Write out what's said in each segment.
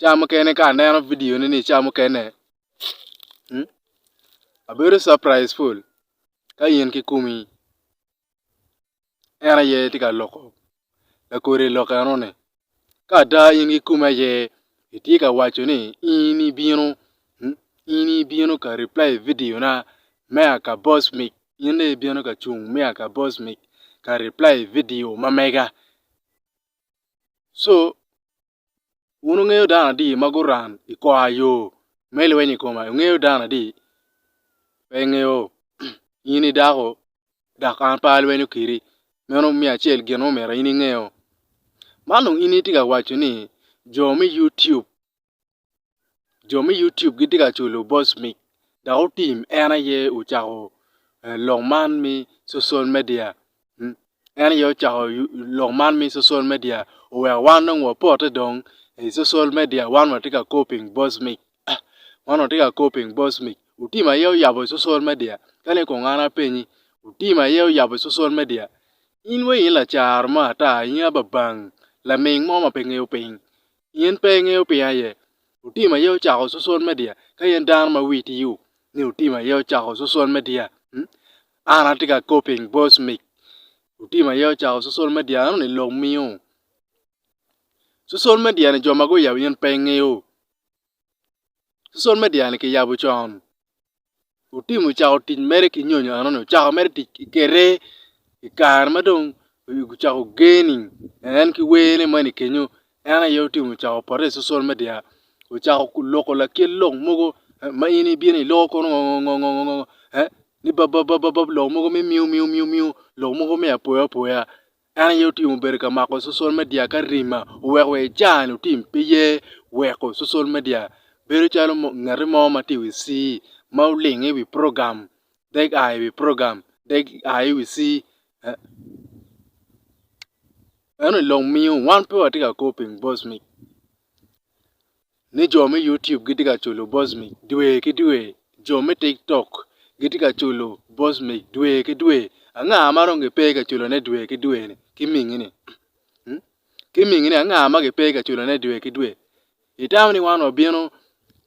Ca mukene ka aneno video ne ni ca mukene abedo surprise ful ka in ki kumi en aye tye ka loko lakodi lok eno ni. Ka ada in ki kumi aye itye ka waco ni in ibino in ibino ka reply video na me a ka boss mic in dong ibino ka cung me a ka boss mic ka reply video ma mega so Wun wungeyo dano adi ma guran i kwayo me lweny i koma? Ingeyo dano adi? Pe ingeyo, in i dako, dok an pe alwenyo kedi. Meno miyo acel gin ma omyero in ingeyo. Man dong in itye ka waco ni jo me Youtube jo me YouTube gitye ka culu boss mic dok otim en aye ocako lok man me social media en aye ocako lok man me social media oweko wan dong wapote dong i social media wan watye ka copying boss mic wan watye ka copying boss mic otim aye oyabo social media kadi kong an apenyi otim aye oyabo social media in wai in lacaro mo ata in aye babang laming mo ma pe ngeyo piny. Pien pe ingeyo piny aye, otim aye ocako cocol me diya, ka in dano ma wi itiyo ni otim aye ocako cocol me diya, an atye ka kop piny boss mic otim aye ocako cocol me diya eno ni lok miyo cocol me diya ni jo ma guyabo in pe ingeyo cocol me diya ni kiyabo con. Otim ocako tic mere ki nyonyo enoni ocako mere tic ki kete i kare ma dong gucako geni en ki wene moni kenyo en aye otim ocako pote i cosol media ocako loko lakit lok mogo ma in ibino iloko kono ngo ngo ngo ngo ngo ni bababab lok mogo me miu miu miu miu lok mogo me apoya apoya En aye otimo bedo ka mako cocol media ka rima oweko wa ican otim pe ye weko cocol media bedo calo ngete mo ma tye iwi ci ma olingo iwi program dek a iwi program dek a iwi ci eno long miyo wan pe watye ka kor ping voice mic. ni jo me YouTube gitye ka culo Bosmic dwe ki dwe, jo me TikTok gitye ka culo Bosmic dwe ki dwe, anga ma dong gipe ka culone dwe ki dwe ni ki mingini? Hmm? Ki mingini anga ma gipe ka culone dwe ki dwe? Itamo ni wan wabino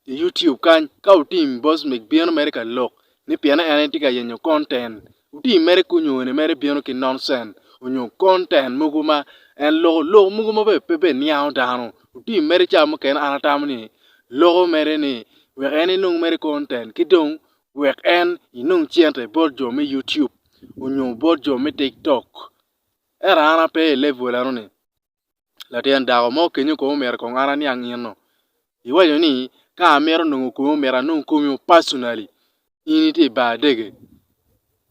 i YouTube kany ka otim Bosmic bino mere ka lok ni piene en tye ka yenyo content Otii mere ki onyone mere bino ki nonsense onyo content mogo ma en loko lok mogo ma bene pe niango dano otii mere cawa mukene an atamo ni loko mere ni wek en enong mere content ki dong wek en enong cente bot jo me YouTube onyo bot jo me TikTok ento an ape i level enoni. Latin dako mo kenyo kong omyero kong an aniang ino. Iwaco ni ka amito nongo komi omyero anong komi o personally in itye i bar dege.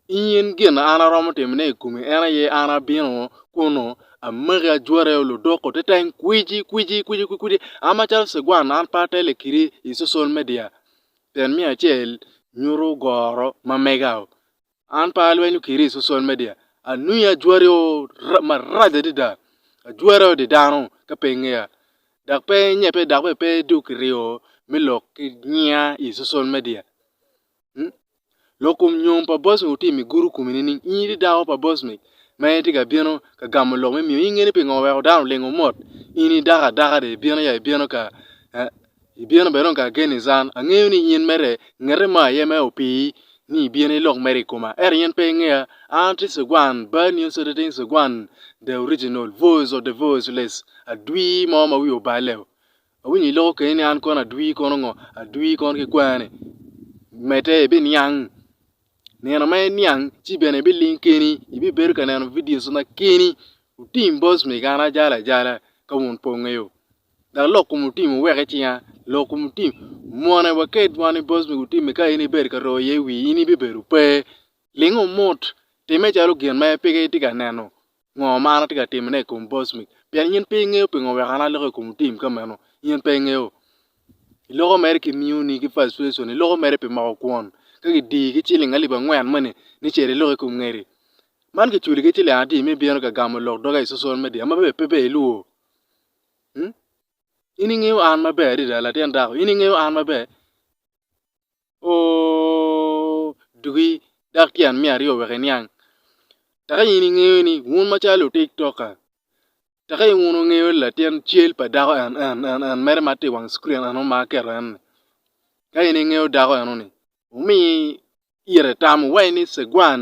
In gin ma an aromo timone i komi en aye an abino kunu amaki ajwati o ludoko te teng kwici kwici kwici kwici an macalo cigwan an pe atelle kidi i social media pien me acel nyuto goro ma mega o. An pe alwenyo kiri i social media, anwingo ajwari o marac adada. Ajwara odi dano ka pe ingeya. Dok pe nye pe dok bene pe dong kiryo me lok ki nyinga i social media. Lok kom nyom pa boss ni wutimi i gurup komi nining? In itye dako pa boss ni ma en tye ka bino ka gamo lok me miyo. In inge ni pingo weko dano olingo mot? In idako adaka dong ibino ya ibino ka. Ibino bedo ka agen i can. Angeyo ni in mere ngete ma aye me opii, ni ibino ilok mere i koma. Ento in pe ingeya. An atye cigwan, Bad New City Teen Cigwan, The Original, Voice of the Voiceless, Adwii mo ma wiye oballe. Awinyo iloko keni ni an kono adwii kono ngo? Adwii kono kikwene. Medde ibiniang. Nino ma iniang ci bene ibiling keni, ibibedo ka neno videos ma keni. Otim boss me gana ajala ajala ka wun pe wungeyo. Dok lok kom otim wuwek i cinga, lok kom otim mwone waked wan i boss me gutimi ka in ibedo ka roo iye wii in ibibedo pe. Ling omut, time calo gin ma peke itye ka neno ngo ma an atye ka timone i kom boss me pien in pe ingeyo pingo wek an aloko i kom tim ka meno in pe ingeyo. Iloko mere ki new ni ki frustration iloko mere pi moko kwon ka gidii ki ciling alip angwen moni ni cit ilok i kom ngedi. Man kiculi ki ciling adi ma ibino ka gamo lok doge i social media ma bene pe iluwo. In ingeyo an maber adada latin dako in ingeyo an maber ooh dugi dok tyen me aryo wek iniang tek in ingeyo ni wun macalo lutic toka tek in wun ingeyo latin cal pa dako en en en en mere ma tye i wang cukrin eno ma aketo en ni ka in ingeyo dako eno ni wumi ite tamo waci ni cegwan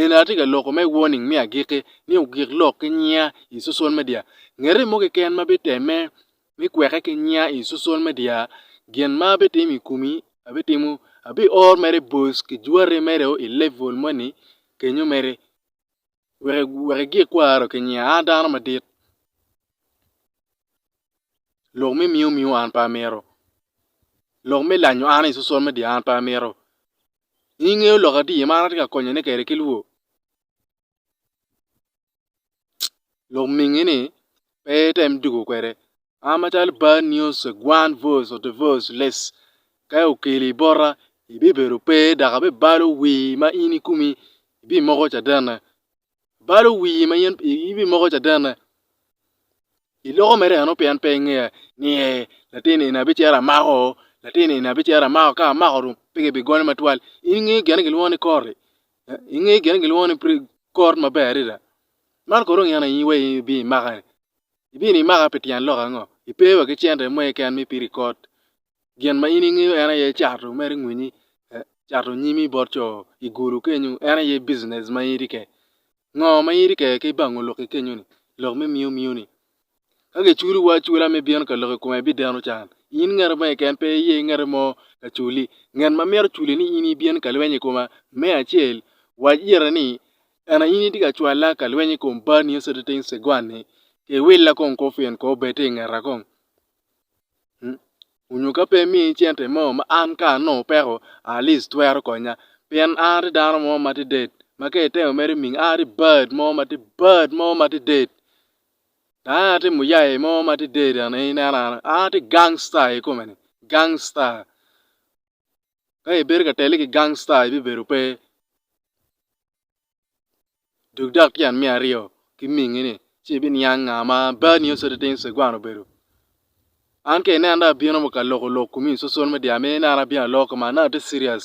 Eni atye ka loko me warning me agikki ni ogik lok ki nyinga i social media. Ngete mo keken ma bitemme me kweke ki nyinga i social media, gin ma abitimo i komi abitimo abior mere bos ki jwati mere o i level moni kenyo mere wek igik kwaro ki nyinga an dano madit lok me miyo miyo an pe amito, lok me lanyo an i social media an pe amito In ingeyo lok ati ma an atye ka konyone kwede ki lwor? Lok mingi ni pe item dwogo kwede. An macalo bad news gwan voice of the voiceless ka okeli bota ibibedo pe dok abibalo wii ma in ikumi ibimoko cadene. balo wii ma in ibimoko cadenne. Iloko mere eno pien pe ingeya ni ee latin eni abicito amako, latin eni abicito amako ka amako dong pe kibigonyo matwal. In ingeyo gin ma kilwongo ni kor-ri? Ingeyo gin ma kilwongo ni kor maber adada? Man kono dong in aye iwai ibino imaka-ni? Ibino imaka pi tyen lok ango? Ipe wa ki cente mo keken ma ipido i kot? gin ma in ingeyo en aye cato mere ngwinyi cato nyimi bot co i gulu kenyo en aye bijinec ma in itye kwede. Ngo ma in itye kwede ki bango lok ki kenyo ni lok me miyo miyo ni ka kiculo wa acula me bino ka lok i kome bideno can in ngete mo keken pe iye ngete mo ka culi nget ma myero oculi ni in ibin ka lweny i koma me acel wac ite ni ena in itye ka cwala ka lweny i kom baa nio citi cegwani kiwilla kong kufin kong bed ti ingeta kong. onyo ka pe imiyo cente mo ma an ka anongo peko at least twero konya pien an atye dano mo ma atye det ma ka itemo mere minya an atye bad mo ma atye bad mo ma atye det dok en aye atye muyai mo ma atye det en aye ineno an atye gangsta i kome-ni gangsta. Ka ibedo ka tele ki gangsta ibibedo pe dog dok tyen me aryo ki mingi ni ci ibiniang nga ma bad nio citi tin cegwan obedo. An ka inena dong abino mo ka loko lok kumi cocol me dyang me ni an abino aloko man nongo ati serious.